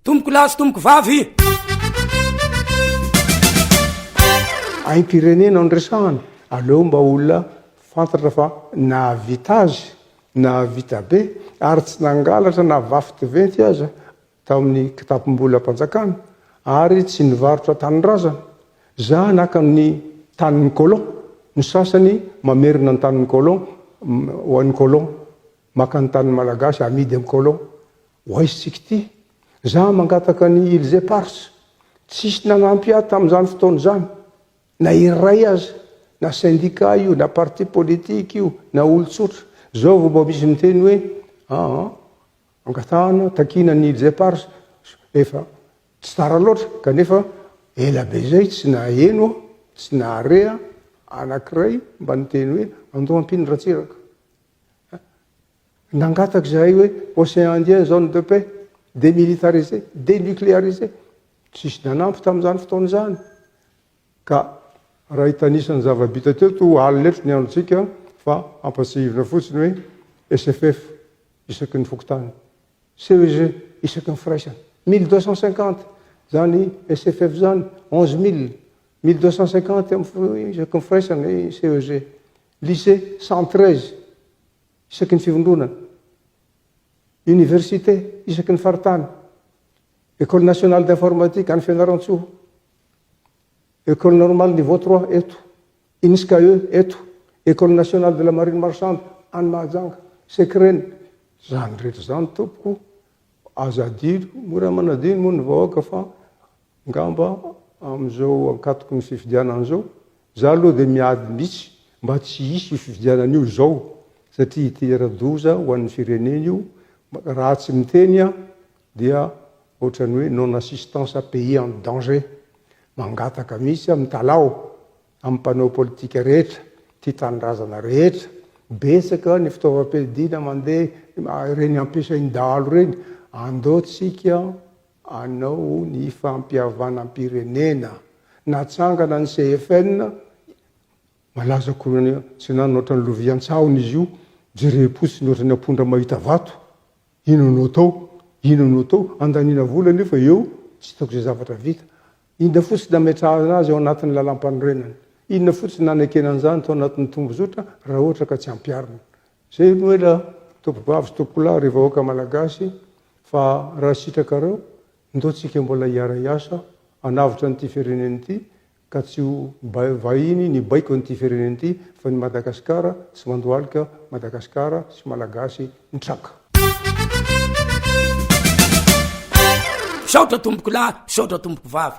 Tompoko lahy sy tompoko vavy! Aim-pirenena no resahana, aleo mba olona fantatra fa nahavita azy, nahavita be ary tsy nangalatra na vafotiventy aza tao amin'ny kitapom-bolam-panjakana ary tsy nivarotra tanindrazana. Za naka ny tanin'ny colon, ny sasany mamerina ny tanin'ny colon ho an'ny colon. Maka ny tanin'ny Malagasy amidy amin'ny colon. Ho aisintsika ity. Za mangataka ny îles éparses. Tsisy nanampy ahy tamin'izany fotoana izany. Na iray aza. Na syndicat io, na parti politique io, na olon-tsotra. Zao vao mba misy miteny hoe aa angatahana, takiana ny îles éparses. Efa tsy tara loatra. Kanefa ela be zay tsy naheno aho, tsy nahare aho anankiray mba niteny hoe andoha ampino Ratsiraka. Nangataka izahay hoe Océan Indien zone de paix, démilitarisé, dénucléarisé. Tsisy nanampy tamin'izany fotoana izany. Ka raha hitanisa ny zava-bita teo toa alina eto ny androntsika fa hampatsiahivina fotsiny hoe SFF isaky ny fokontany, CEG isaky ny firaisana, mille deux cent cinquante izany SFF izany, onze mille, mille deux cent cinquante isaky ny firaisana i CEG. Lycée cent treize isaky ny fivondronana, Université isaky ny faritany, Ecole nationale d'informatique any Fianarantsoa, Ecole normale niveau trois eto, Inscae eto, Ecole nationale de la marine marchande any Mahajanga, Secrene, izany rehetra izany tompoko aza adino, mora manadino moa ny vahoaka fa Ngamba amin'izao ankatoky ny fifidianana izao, za aloha dia miady mihitsy mba tsy hisy io fifidianana io izao satria hitera-doza ho an'ny firenena io, raha tsy miteny aho dia ohatran'ny hoe non assistance à pays en danger, mangataka mihitsy aho mitalaho amin'ny mpanao politika rehetra, tia tanindrazana rehetra, betsaka ny fitaovam-piadiana mandeha ireny ampiasain'ny dahalo ireny, andao tsika hanao ny fampihavanam-pirenena. Natsangana ny CFN, malaza koroana tsinanana ohatran'ny lovia an-tsahona izy io, jerem-potsiny ohatran'ny ampondra mahita vato, inona no atao, inona no atao, andaniana vola nefa eo tsy hitako izay zavatra vita. Inona fotsiny no ametrahana azy ao anatin'ny lalam-panorenana? Inona fotsiny no anekena an'izany tao anatin'ny tombozotra raha ohatra ka tsy ampiharina? Zay no ela tompobavy sy tompolahy ry vahoaka malagasy fa raha sitrakareo ndao tsika mbola hiara hiasa hanavotra an'ity firenena ity ka tsy ho vahiny ny baiko an'ity firenena ity fa ny Madagascar tsy mandohalika Madagascar sy malagasy mitraka. Misaotra tompokolahy, misaotra tompokovavy.